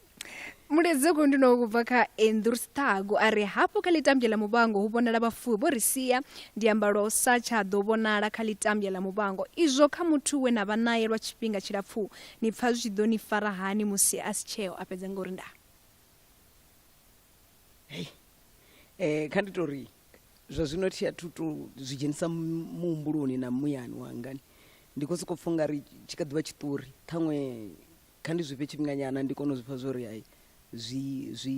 mulezi ku ndi no kubva kha andrew stago a ri hafhu kha ḽitambya ḽa muvhango hu vhonala vhafuwi vho ri sia ndi amba lwa u sa tsha ḓo vhonala kha ḽitambya ḽa muvhango izwo kha muthu we na vha naye lwa tshifhinga tshilapfu ni pfa zwi tshi ḓo ni fara hani musi a si tsheo a fhedza nga uri ndaa hei um kha ndi tou ri zwa zwino thi athu to zwi dzhenisa muhumbuloni na muyani wangani ndi khou sokou pfha ungari tshi kha ḓivha tshiṱori ṱhaṅwe kha ndi zwifhe tshifhinganyana ndi kone u zwifha zwo ri hai zwi zwi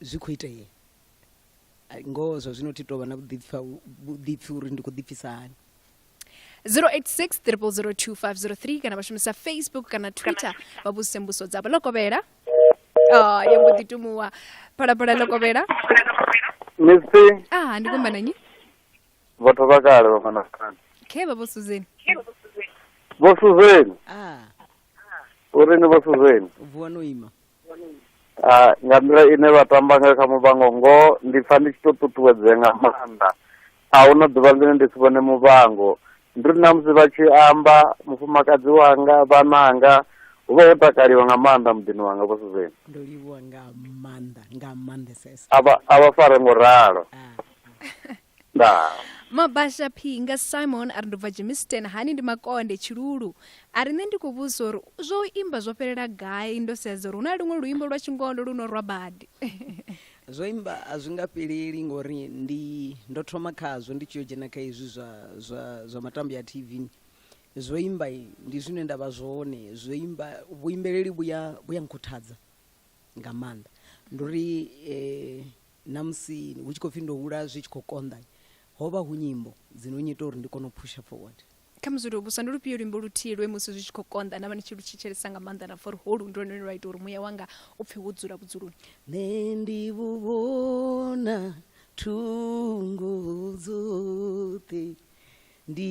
zwi khou itea ngoho zwa zwino thi tovha na vhuḓipfa vhuḓipfi uri ndi khou ḓipfisa hani 086 kana vha shumisa facebook kana twitter vha vhudzise mbuso dzavho ḽo kovhela oh, ya mbo ḓi tumuwa phalaphala ḽo kovhela misi ah ndi kumba nanyi vhathu vha kale vha manakani khe vha vho suzeni vho suzeni ah. uri ni vho suzeni vuwa no ima nga nḓila ine vha tamba ngayo kha Muvhango ngoho ndi pfa ndi tshi to ṱuṱuwedzea nga maanḓa, ahuna ḓuvha ḽine ndi si vhone Muvhango, ndi uri ṋamusi vha tshi amba mufumakadzi wanga, vhananga, hu vha ho takaliwa nga maanḓa muḓini wanga vho Suzan. Ndo livhuwa nga maanḓa nga maanḓesesa. A vha a vha fare ngo ralo. ndaa mabasha phi nga simon a ri ndo bva jimisten hani ndi makonde tshilulu a ri nṋe ndi khou vhudzisa uri zwo imba zwo fhelela gai ndo sedza uri hu na luṅwe luimbo lwa tshingondo lu no rwa badi zwo imba a zwi nga fheleli ngori ndi ndo thoma khazwo ndi tshi yo dzhena kha hezwi zwa, zwa, zwa matambo ya tv zwo imba ndi zwine nda vha zwone zwo imba vhuimbeleli vhuya vhuya nkhuthadza nga maanḓa ndi uri eh, Na musi hu tshi khou pfi ndo hula zwi tshi khou konḓa, ho vha hu nyimbo dzi no nnyita uri ndi kone u pusher forward. Kha muzutu vhuswa, ndi lufhio luimbo luthihi lwe musi zwi tshi khou konḓa na vha ni tshi lu thetshelesa nga maanḓa na pfa uri holu ndi lwone lune lwa ita uri muya wanga u pfe wo dzula vhudzuloni? Nṋe ndi vhu vhona thungo dzoṱhe, ndi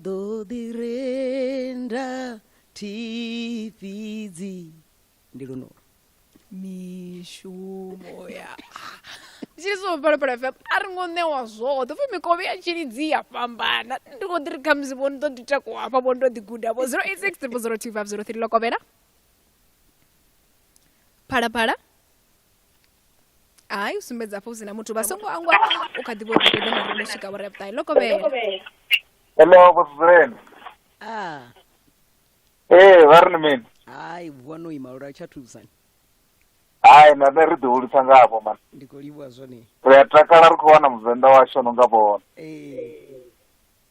ḓo ḓi renda thi fhidzi. ndi lunolo mishumo ya tshiliso phalaphala fm a ri ngo ṋewa zwoṱhe upfi mikovhe ya tshilidzi ya fhambana ndi khou ḓi ri khamusi vho ni ḓo ḓi takuwa hafha vho ni ḓo ḓi guda vho 086 triple 02503 ḽo kovhela phalaphala hayi u sumbedza hafha hu si na muthu vha songo angwa u kha ḓi vho ḓi ṱoḓa na ri swika vho ri vhuṱae ḽo kovhela Hello, boss Zelen. Ah, ee vha ri ni mini hai vuwa no ima lura tsha thusani hai na nṋe ri ḓi hulisa nga havho mani ndi khou livhuwa zwone ri a takala ri khou wana muvenḓa washu no nga vhona ee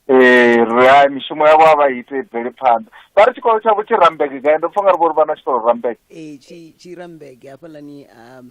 ee ri hai mishumo yavho a vha i ite i bvele phanḓa vha ri tshikolo tshavho tshi rambege gai ndo pfa nga ri vho ri vha na tshikolo rambege ee tshi tshi rambege hafhaḽani um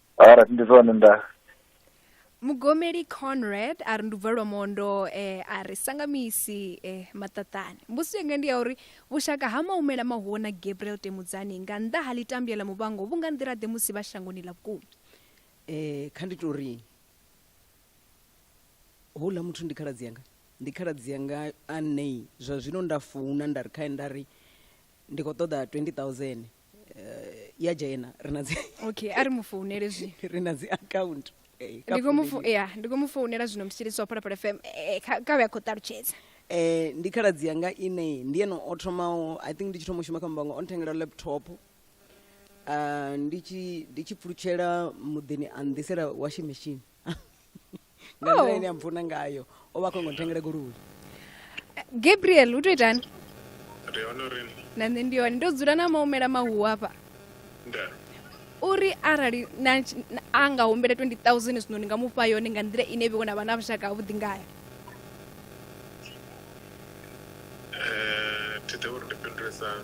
Alright, ndi zwone nda. mugomeli conrad a ri ndubva lwa mondo eh, a ri sangamisi eh, maṱaṱani mbudziso yanga ndi ya uri vhushaka ha maumela mahuwo na gabriel temudzani nga nnḓa ha ḽitambya ḽa muvhango vhu nga nḓila-ḓe musi vha shangoni ḽa vhukuma eh kha ndi tou ri houḽa muthu ndi khaladzi yanga ndi khaladzi yanga a nei zwa zwino nda founa nda ri khae nda ri ndi khou ṱoḓa 20000 eh, ya dzhena ri na dzi okay a ri mu founele zwino ri na dzi account eh, kha ndi khou mu fo- founeli. ya ndi khou mu founela zwino mutshilisi wa phalaphala fm eh, kha kha vhe a khou ṱalutshedza eh ndi khaladzi yanga ine ndi eno o thomaho i think ndi tshi thoma u shuma kha mbango o nthengela laptop uh, ndi tshi ndi tshi pfulutshela muḓini a nḓisela washing machine nga nḓila oh. ine a mpfuna ngayo o vha a khongo nthengele goloi eh, gabriel u to itani na nṋe ndi hone ndo dzula na maumela mahu hafha uri arali a nga humbela 20 000 zwino ndi nga mu fha yone nga nḓila ine vhiwo na vha na vhushaka havhuḓi ngayo eh, thi ḓe uri ndi fhindulesana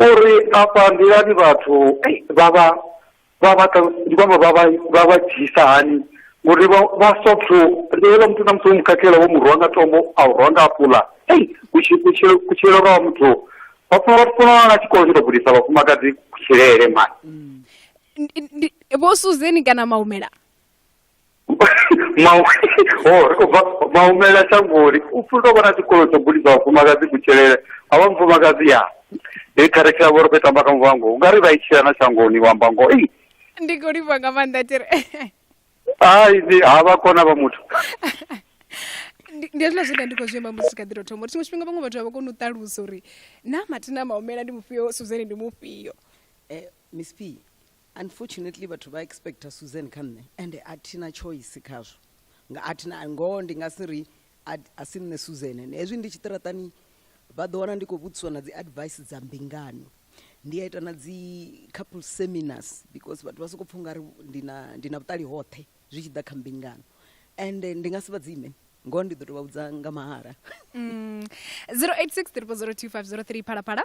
uri afha nḓilani vhathu vha vha vha vha ndi kwamba vha vha vha vha dzhisa hani ngori vha vha sothu ndi hela muthu na muthu mukhakhela wo mu rwa nga tombo a u rwa nga apula ei kutshilo kutshilo lwa muthu vhafuna vhathu funa na tshikolo tsho to gudisa vhafumakadzi kutshilele mani vho suzeni kana maumela mau ho ri khou bva maumela shangoni u pfuli tou vha na tshikolo tsho gudisa vhafumakadzi kutshilele a vha mufumakadzi ya he kharikhilamu vho ri khou i tamba kha muvhango u nga ri vha i tshila na shangoni wa amba ngoho ei ndi khou livha nga maanḓa tiri hai ndi ha vha kona vha muthu ndi ndi hezwiḽa zwine ndi khou zwi amba musi kha ḓiro thoma uri tshiṅwe tshifhinga vhaṅwe vhathu a vha koni u ṱalusa uri na mathina maumela ndi mufhio suzeni ndi mufhio Eh, miss p Unfortunately vhathu vha expecter Susan kha nṋe ende a thina choice khazwo nga a thina ngoho ndi nga si ri a si nṋe Susan ende hezwi ndi tshiṱiraṱani vha ḓo wana ndi khou vhudziswa na dzi advice dza mbingano ndi a ita na dzi couple seminars because vhathu vha sokou pfha ungari ndi na ndi na vhuṱali hoṱhe zwi tshi ḓa kha mbingano ende ndi nga si vha dzime ngoho ndi ḓo tou vha vhudza nga mahala 086 mm. 3 phalaphala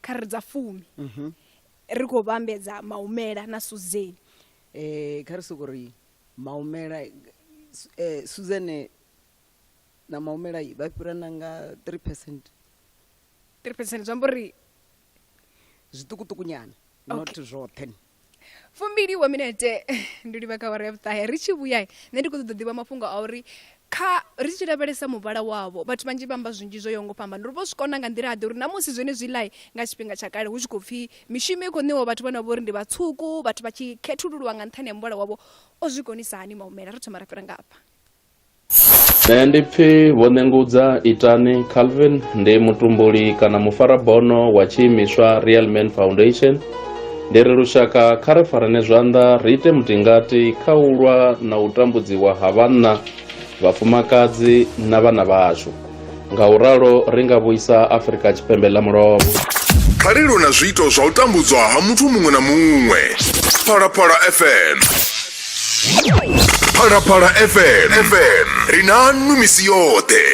kha ri dza fumi mhm. ri khou vhambedza maumela na suzeni um eh, kha ri soko ri maumela um eh, suzene na maumela vha fhirana nga three percent three percent zwi amba uri zwiṱukuṱukunyana not zwoṱhe okay. fumbili wa minete ndi livha kha awara ya vhuṱahe ri tshi vhuya nṋe ndi khou ṱoḓa ḓivha mafhungo a uri kha ri tshi lavhelesa muvhala wavho vhathu vhanzhi vha amba zwinzhi zwo yaho ngo fhambana ri vho zwi kona nga nḓila ḓe uri na musi zwone zwi lai nga tshifhinga tsha kale hu tshi khou pfhi mishumo i khou ṋewa vhathu vhane vha uri ndi vhatswuku vhathu vha tshi khethululwa nga nṱhani ha muvhala wavho o zwi konisa hani maumela ri thoma ra fhira ngafha Nṋe ndi pfi Vho Nengudza Itani Calvin, ndi mutumbuli kana mufarabono wa tshiimiswa Real Man Foundation. Ndi ri lushaka kha ri farane zwanḓa ri ite mutingati kha u lwa na u tambudziwa ha vhanna, vhafumakadzi na vhana vhashu. nga u ralo ri nga vhuisa afurika tshipembe ḽa mulovha phalelo na zwiito zwa u tambudzwa ha muthu muṅwe na muṅwe phalaphala fm phalaphala fm fm ri na nnu misi yoṱhe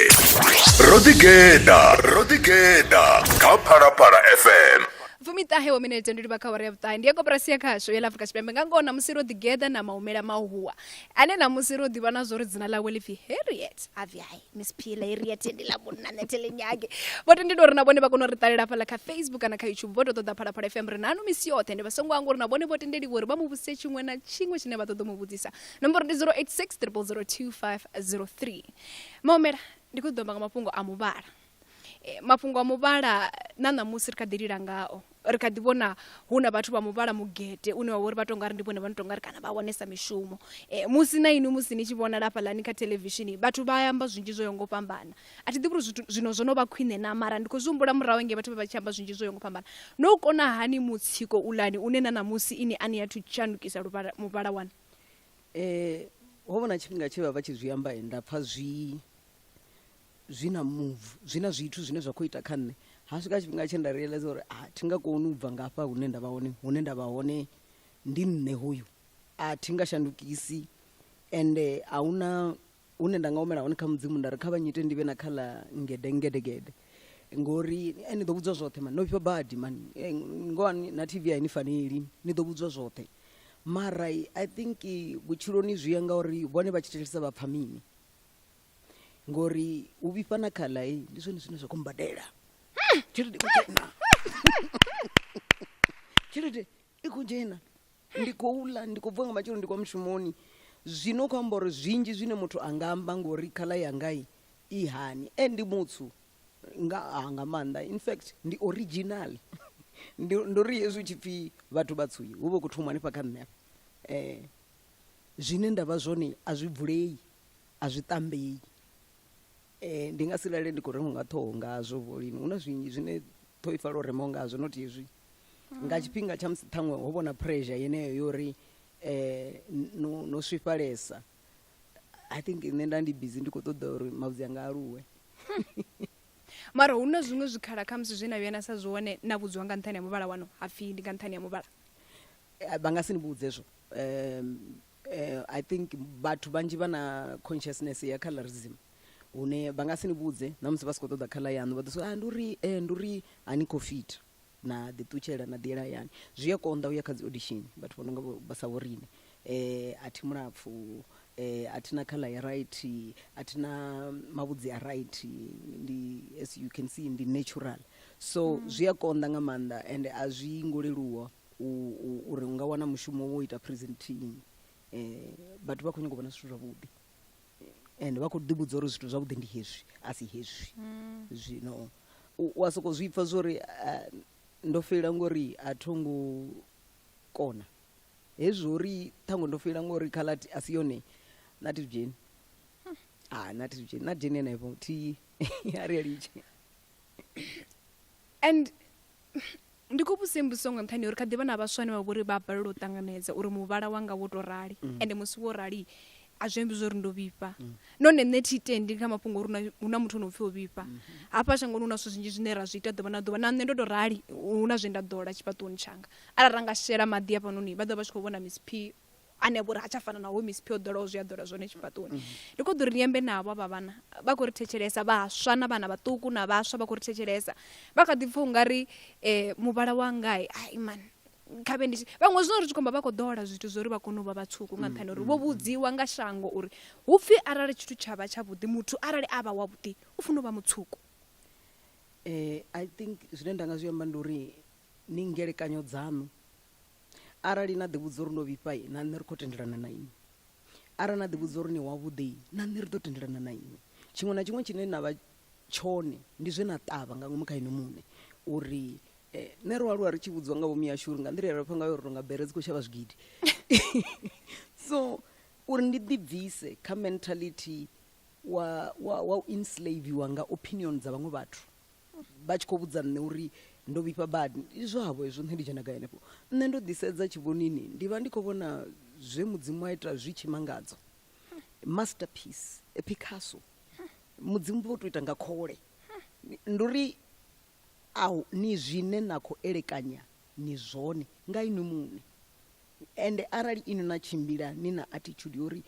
ro ḓigeḓa ro ḓigeḓa kha phalaphala fm fumiṱahe wa minete ndi livha kha wara ya vhuṱahe ndi ya koporasi ya khasho ya la afrika tshipembe nga ngoho namusi ro ḓigeḓa na mahumela mahuwa ane namusi ro ḓivha na zwo ri dzina ḽawe ḽi pfi harriet avyayi miss pila iria tendi ḽa munna nṋe thi ḽi nyagi vho tendela uri na vhone vha kone u ri ṱalela hafhaḽa kha facebook kana kha youtube vho tou ṱoḓa phalaphala fm ri nanu misi yoṱhe ndi vha songo anga uri na vhone vho tendeliwa uri vha mu vhudzise tshiṅwe na tshiṅwe tshine vha ṱoḓa u mu vhudzisa nomboro ndi 086 002503 maomela ndi khou ḓo amba nga mafhungo a muvhala e, mafhungo a muvhala na ṋamusi ri kha ḓi lila ngao ri kha ḓi vhona hu na vhathu vha muvhala mugete une wa vha uri vha tou nga ri ndi vhone vha no tou nga ri kana vha wanesa mishumo e, musi na inwi musi ni tshi vhonala hafhaḽani kha televishini vhathu vha amba zwinzhi zwo yaho ngo fhambana a thi ḓivhi uri zwithu zwino zwo no vha khwine na mara ndi khou zwi humbula murahu nge vhathu vha vha tshi amba zwinzhi zwo yaho ngo fhambana no u kona hani mutsiko ulani une na ṋamusi ini a ni athu tshandukisa luvhala muvhala wanu um ho vha na tshifhinga tshe vha vha tshi zwi amba nda pfha zwi zwi na move zwi na zwithu zwine zwa khou ita kha nṋe ha swika tshifhinga tshe nda realize uri a thi nga koni u bva ngafha hune nda vha hone hune nda vha hone ndi nṋe hoyu a thi nga shandukisi ende a huna hune nda nga humela hone kha mudzimu nda ri kha vhanyite ndi vhe na kha ḽa ngede ngedegede ngori eh, ni ḓo vhudzwa zwoṱhe mani no vhifha badi mani eh, ngowa ni- na tv aini faneli ni ḓo vhudzwa zwoṱhe mara i think eh, vhutshiloni zwi ya ngauri vhone vha tshi thetshelesa vha pfha mini ngori u vhifha na khala eh, ndi zwone zwine zwa khou mbadela tshelede i khou dzhena tshelede i khou dzhena ndi khou ḽa ndi khou bva nga matshelo ndi kwa mushumoni zwino u khou amba uri zwinzhi zwine muthu a nga amba ngori khala yangai i hani e ndi mutsu nga, ah, nga maanḓa in fact ndi original Ndi- ndo ri hezwi u tshi pfhi vhathu vhatsuyi hu vha u khou thoma hanefha kha nṋe afha um zwine nda vha zwone a zwi vulei, a zwi tambei. Ndi nga si lale ndi khou remiwa nga ṱhoho ngazwo vho lini, hu na zwinzhi zwine ṱhoho i pfala u remiwa ngazwo not hezwi. Nga tshifhinga tsha musi ṱhaṅwe ho vha na pressure yeneyo ya uri no no swifhalesa, I think nṋe nda ndi busy ndi khou ṱoḓa uri mavhudzi anga a aluwe. Mara hu na zwiṅwe zwikhala khamusi zwe na vhuya na sa zwi wane na vhudziwa nga nṱhani ha muvhala waṋu ha pfhi ndi nga nṱhani ha muvhala? Eh, vha nga si ni vhudze zwo um, uh, i think vhathu vhanzhi vha na consciousness ya colorism hune vha nga si ni vhudze na musi vha si khou ṱoḓa khala yaṋu vha ḓo so ah, ndi uri eh, ndi uri a ni khou fit na ḓiṱutshela na ḓiela yani zwi a konḓa u ya kha dzi audition vhathu vha no nga vha sa vhorine eh, a thi mulapfu eh, a thi na khala ya right a thi na mavhudzi a right ndi as you can see ndi natural so mm. zwi a konḓa nga maanḓa and a zwi ngo leluwa uri u nga wana mushumo wo ita presenting um eh, vhathu vha khou nyanga u vhona zwithu zwavhuḓi and vha khou ḓivhudza uri zwithu zwavhuḓi ndi hezwi a si hezwi mm. zwino u a sokou zwi pfa zwori eh, ndo feila ngori a tho ngo kona hezwi uri ṱhango ndo feila ngori khalati a si yone na thi dzheni hmm. a ah, na thi dzheni na dzheni henefho thi a ri a litshe and ndi khou vhudzisa mbudziso nga nṱhani uri kha ḓivha na vhaswa ane vha vhori vha balelwa u ṱanganedza uri muvhala wanga wo to rali mm. ende musi wo rali a zwi ambi zwori ndo vhifha mm. none nṋe thi tendi kha mafhungo uri hu na muthu ono pfhi o vhifha mm-hmm. hafha shangoni hu na zwithu zwinzhi zwine ra zwi ita ḓuvha na ḓuvha na nṋe ndo to rali hu na zwe nda ḓola tshifhaṱuwoni tshanga arali ra nga shela maḓi afhanoni vha ḓo vha tshi khou vhona miss p ane a vha uri ha tsha fana naho misiphi yo ḓolaho zwi a ḓola zwone tshifhaṱoni ndi khou ḓo ri ni ambe navho avha vhana vha khou ri thetshelesa vhaswa na vhana vhaṱuku na vhaswa vha khou ri thetshelesa vha kha ḓi pfha ungari um muvhala wangai ai man khavhe ndi vhaṅwe zwino ri tshi khomba vha khou ḓola zwithu zwo ri vha kone u vha vhatswuku nga nṱhani uri vho vhudziwa nga shango uri hu pfhi arali tshithu tsha vha tshavhuḓi muthu arali a vha wavhuḓi u funa u vha mutswuku um i think zwine nda nga zwi amba ndi uri ni ngelekanyo dzaṋu Arali na ḓivhudza uri ndo vhifha na nṋe ri khou tendelana na inwi arali na ḓivhudza uri ni wavhuḓi na nṋe ri ḓo tendelana na inwi tshiṅwe na tshiṅwe tshine na vha tshone ndi zwe na ṱavha nga ngomu kha inwi muṋe uri eh, nṋe ro aluwa ri tshi vhudziwa nga vhomi yashu uri nga nḓila yalapfa ngayo uri tonga bere dzi khou shavha zwigidi so uri ndi ḓibvise kha mentality wa, wa, wa u enslaviwa nga opinion dza vhaṅwe vhathu vha tshi khou vhudza nṋe uri ndo vhifha badi ndi zwavho hezwo nṋe ndi dzhena gai henefho nṋe ndo ḓisedza tshivhonini ndi vha ndi khou vhona zwe mudzimu a ita zwi tshimangadzo masterpiece a picasso mudzimu vho to ita nga khole ndi uri au ni zwine na khou elekanya ni zwone nga inwi muṋe ende arali inwi na tshimbila ni na attitude yo uri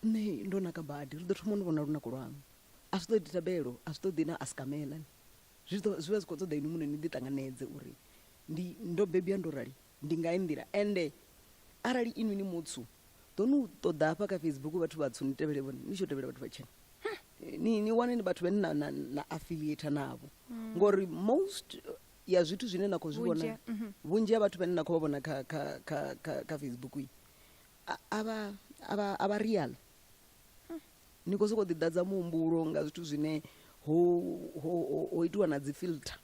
nṋe ndo naka badi ri ḓo thoma ni vhona lunako lwanu A zwi ṱoḓi thabelo, a zwi ṱoḓi na askamela. Zwi ḓo, zwi vha zwi khou ṱoḓa inwi muṋe ni ḓi ṱanganedze uri ndi, ndo bebwa ndo rali, ndi nga hei nḓila. Ende arali inwi ni mutswu, ḓo ni u ṱoḓa hafha kha Facebook vhathu vhatswu ni tevhele vhone, ni tshi yo tevhela vhathu vhatshena. Ni, ni wane ni vhathu vhane na, na, na affiliator navho. Ngori most ya zwithu zwine na khou zwi Vhunzhi vhona, ha- mhm. vhunzhi ha vhathu vhane na khou vha vhona kha, kha, kha, kha, kha Facebook iyi, a, a vha, a vha, a vha real. ni khou sokou ḓiḓadza muhumbulo nga zwithu zwine ho, ho, ho, ho itiwa na dzi filter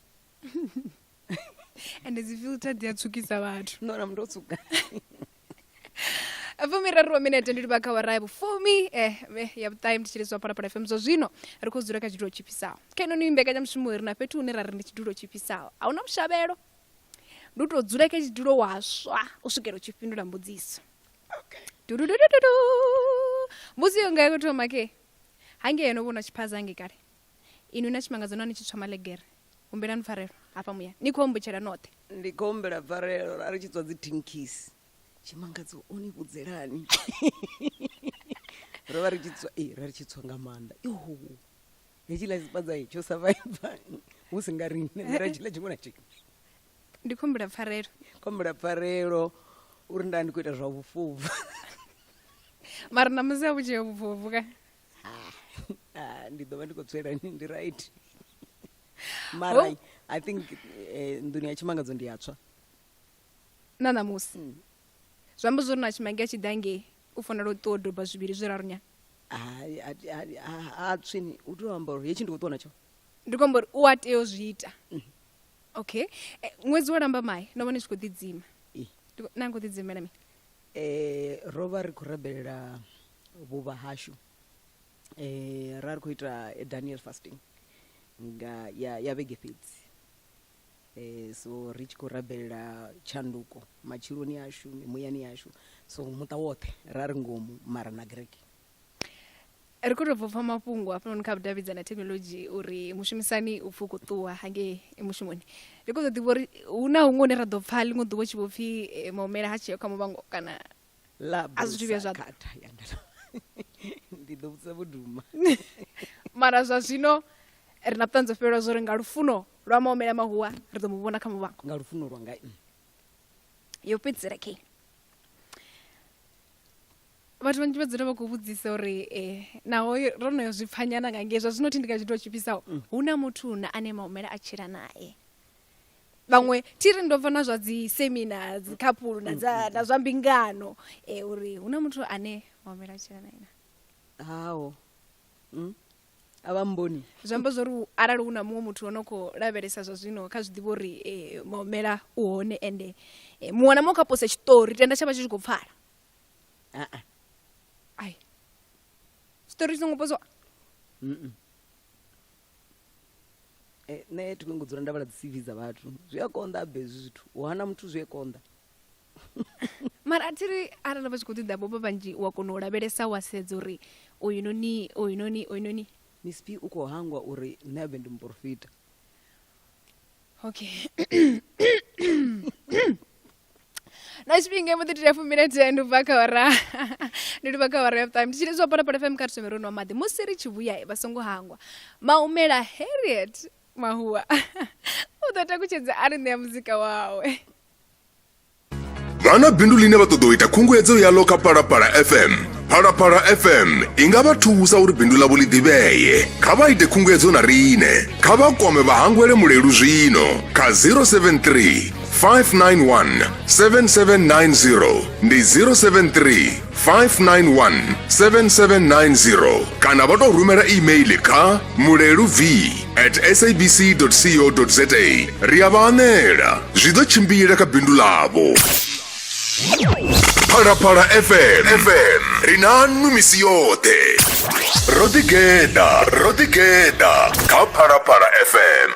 ende dzi filter dzi a tswukisa vhathu no na muthu o tswuka fumiraru wa minete ndi livha kha wara ya vhufumi eh, eh, ya vhuṱahe ndi tshiliswa phalaphala fm zwa zwino ri khou dzula kha tshidulo tshifhisaho kha ino ni mbekanyamushumo ri na fhethu hune ra ri ndi tshidulo tshifhisaho a hu na vhushavhelo ndi u tou dzula kha tshidulo waswa u swikela u tshi fhindula mbudziso Dudududududu. mbuzi iyo ngayo kutoma ke hange yeno vhona tshiphaza hange kale inwi na tshimangadzo nani tshitswa malegere humbelani pfarelo hafha muya ni khou ombutshela noṱhe ndi khou humbela pfarelo ra ri tshi tswa dzi tinkisi tshimangadzo o ni vhudzelani ro vha ri tshi tswa ee ra ri tshi tswa nga maanḓa yoho hetshiḽa tshipadza tsho savaiva hu si nga riṋe ra tshiḽa tshiṅwe na tshiṅwe ndi khou humbula pfarelo khou humbula pfarelo uri nda ndi khou ita zwa vhufhuvhu mara na musi a vhu tsheo vhufhuvhu ka ah, ah, ndi ḓo vha ndi khou tswela ndi right mara oh. i think eh, nḓuni ya tshimangadzo ndi yatswa na ṋamusi mm. zwi amba zwo ri na tshimange a tshi ḓa ngei u fanela u ṱuwa doba zwivhili zwi raru nyana a tswini u tea u amba uri hetshi ndi khou ṱuwa natsho ndi khou amba uri u a tea u zwi ita mm. okay eh, ṅwedzi wo lamba mai no vhone tshi khou ḓidzima na khou ḓidzimela mi eh ro vha ri khou rabelela vhuvha hashu eh ra ri khou ita eh, daniel fasting nga ya ya vhege fhedzi eh so ri tshi khou rabelela tshanduko matshiloni ashu muyani yashu so muṱa woṱhe ra ri ngomu mara na greke ri khou tou bva pfa mafhungo hafhanoni kha vhudavhidza na thekhinolodzhi uri mushumisani u pfhi u khou ṱuwa hangei mushumoni ri khou ḓo ḓivha uri hu na huṅwe hune ra ḓo pfa ḽiṅwe ḓuvha tshi vho pfhi eh, maumela ha tsheo kha muvhango kana a zwithu vhuya zwa ndi ḓo vhudza vhuduma mara zwa zwino ri na vhuṱanzi fhelelwa zwo ri nga lufuno lwa maumela mahuwa ri ḓo mu vhona kha muvhango nga lufuno lwa nga yo fhedzisela khe vhathu vhanzhi vha dzula vha khou vhudzisa uri eh, naho ro no yo zwi pfanyana nga ngei zwa zwino thi ndi kha tshithu tshi fhisaho mm. hu na muthu na ane maumela a tshila naye vhaṅwe thi ri ndo bva na zwa dzi semina dzi khaphulu na dza na zwa mbingano eh uri hu na muthu ane maumela a tshila naye na hawo mm. a vha mboni zwi amba zwa uri arali hu na muṅwe muthu o no khou lavhelesa zwa zwino kha zwi ḓivha uri eh, maumela u hone ende eh, muṅwe na muṅwe kha posa tshiṱori tenda tsha vha tshi tshi khou pfala ai tshiṱori tshi songo poziwa eh, nṋe thi kongo dzula nda vhala dzi cv dza vhathu zwi a konḓa abe hezwi zwithu u hana muthu zwi a konḓa mara a thiri arali vha tshi khou ṱoḓa bobo vhanzhi wa kona u lavhelesa wa sedza uri oyunoni oyunoni oyunoni mispi u khou hangwa uri nṋe abe ndi muporofita okay na tshifhinga mbo ḓi tea fumile thendo bva kha ora ndi tou bva kha ora ya vhuṱaṋu ndi tshine zwa pona pona fm kha thome ro nwa maḓi musi ri tshi vhuya vha songo hangwa maumela harriet mahuwa u ḓo takutshedza a ri ṋea muzika wawe vha na bindu ḽine vha ṱoḓa u ita khunguwedzo yaḽo kha phalaphala fm phalaphala fm i nga vha thusa uri bindu ḽavho ḽi ḓivhee kha vha ite khunguwedzo na riṋe kha vha kwame vhahangwele mulelu zwino kha 073 591 7790 ndi 073 591 7790 kana vha tou rumela email kha mulelu v at sabc co za ri a vha anela zwi ḓo tshimbila kha bindu ḽavho phalaphala fm fm ri na nnu misi yoṱhe ro ḓigeḓa ro ḓigeḓa kha phalaphala fm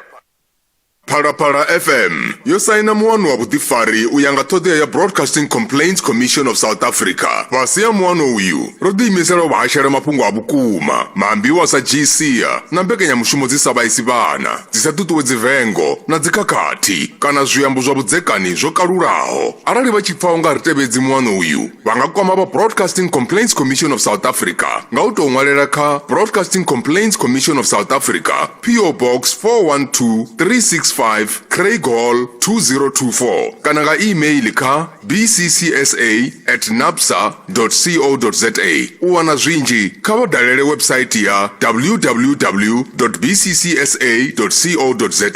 Phalaphala FM yo saina muano wa vhuḓifari u ya nga ṱhoḓea ya Broadcasting Complaints Commission of South Africa. Fhasi ha muano uyu, ro ḓiimisela u vha hashela mafhungo a vhukuma, maambiwa sa dzhisia na mbekanyamushumo dzi sa vhaisi vhana, dzi sa ṱuṱuwedzi vengo na dzikhakhathi kana zwiambo zwa vhudzekani zwo kalulaho. Arali vha tshi pfa u nga ri tevhedzi muano uyu, vha nga kwama vha broadcasting complaints commission of south africa nga u tou ṅwalela kha broadcasting complaints commission of south africa po box 412365 craig hall 2024 kana nga email kha bccsa at napsa co za u wana zwinzhi kha vha dalele website ya www bccsa co za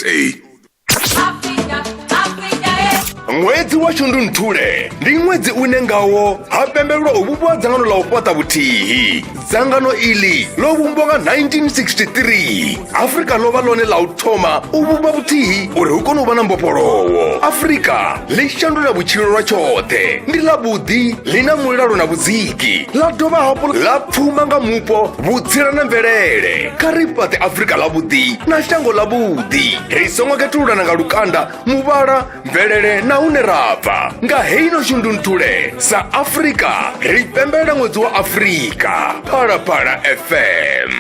ṅwedzi wa shundunthule ndi ṅwedzi une ngawo ha pembelelwa u vhumbiwa dzangano la u fhaṱa vhuthihi dzangano iḽi ḽo vhumbwa nga 1963 afurika ḽo vha ḽone ḽa u thoma u vhumba vhuthihi uri hu kone u vha na mbofholowo afurika ḽi shandula vhutshilo lwa tshoṱhe ndi ḽa vhuḓi ḽi na mulalo na vhudziki ḽa dovha hafhu ḽa pfuma nga mupo vhutsila na mvelele kha ri fhaṱe afurika ḽavhuḓi na shango ḽavhuḓi ri songo khethululana nga lukanda muvhala mvelele na hune ra bva nga heino shundunthule sa afurika ri pembelela ṅwedzi wa afurika phalaphala fm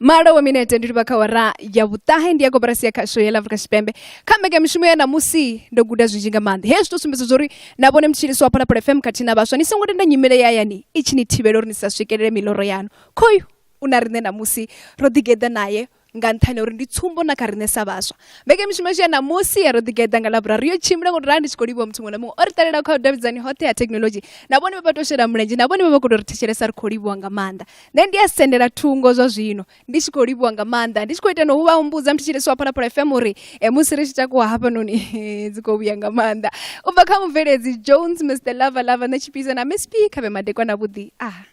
malo wa minete ndi livha kha wara ya vhuṱahe ndi ya koporasi ya khasho ya afrika tshipembe kha mbekamishumo ya namusi ndo guda zwinzhi nga maanḓa hezwi to sumbedza zwauri na vhone mutshilisi wa phalaphala fm khathihi na vhaswa ni songo tenda nyimele ya hayani i tshi ni thivhela uri ni sa swikelele miloro yanu khoyu u na riṋe namusi ro ḓigeḓa naye nga nṱhani uri ndi tsumbo na kha riṋe sa vhaswa mbekamishumo yashu ya namusi ya ro ḓigeḓa nga lavhurari yo tshimbila ngo rali ndi tshi khou livhuwa muthu muṅwe na muṅwe o ri ṱalela kha vhudavhidzani hoṱhe ha thekhinolodzhi na vhone vha vha to shela mulenzhe na vhone vha vha khou tou ri thetshelesa ri khou livhuwa nga maanḓa nṋe ndi a sendela thungo zwa zwino ndi tshi khou livhuwa nga maanḓa ndi tshi khou ita no vha humbudza muthu tshilesi wa phalaphala fm uri e, musi ri tshi takuwa hafhanoni dzi khou vhuya nga maanḓa u bva kha mubveledzi jones mr lava lava nṋe tshipisa na msp khavhe madekwa na vhuḓi ah